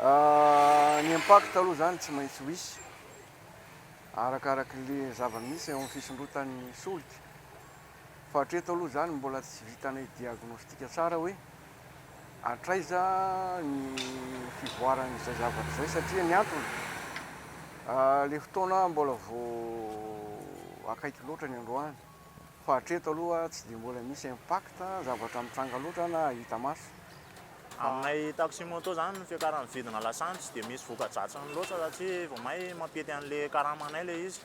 Ny impact aloha izany tsy maintsy ho hisy, arakarakin'le zava-misy eo amin'ny fisondrotan'ny solika. Fa hatreto aloha izany mbola tsy vitanay diagnostic tsara hoe hatraiza ny fivoaran'izay zavatra izay satria ny antony, le fotoana mbola vao akaiky loatra ny androany. Fa hatreto aloha tsy dia mbola misy impact, zavatra mitranga loatra na hita maso. Aminay taxi moto izany ny fiakaran'ny vidina lasantsy tsy dia misy voka-dratsiny loatra satria vao may mampety an'ilay karamanay ilay izy.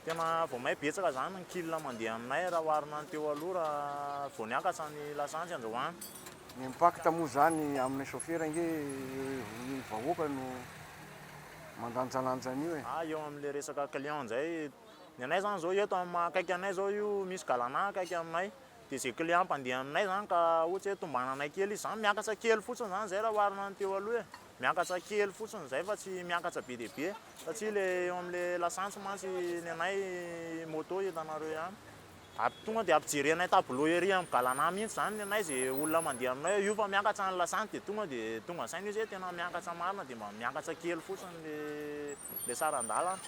Tena vao may betsaka izany ny kil mandeha aminay raha oharina ny teo aloha raha vao niakatra ny lasantsy androany. Ny impact moa izany aminay chauffeur ange ny vahoaka no mandanjalanja an'io e. Eo amin'ilay resaka client indray, Ny anay zany zao eto am akaiky anay zao io misy galana akaiky aminay de ze client mpandeha aminay zany ka ohatry hoe tombananay kely izy zany miakatra kely fotsiny zany zay raha oharina ny teo aloha e! miakatra kely fotsiny zay fa tsy miakatra be dia be satria le eo amle lasantsy mantsy ny anay moto hitanareo ihany. Ary tonga dia ampijerenay tableau ery amin'ny galanà mihitsy izany nenay izay olona mandeha aminay hoe io fa miakatra ny lasantsy dia tonga dia tonga saina io izay tena miakatra marina dia mba miakatra kely fotsiny ilay ilay saran-dalana.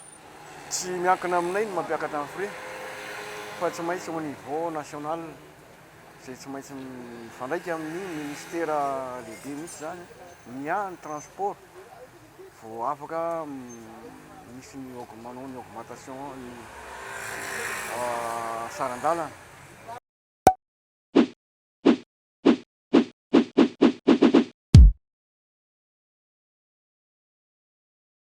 Tsy miankina aminay ny mampiakatra ny frais fa tsy maintsy au niveau national izay tsy maintsy mifandraika amin'ny ministera lehibe mihitsy izany miahy ny transport. Vao afaka misy ny augmentation, ny augmentation ny saran-dalana.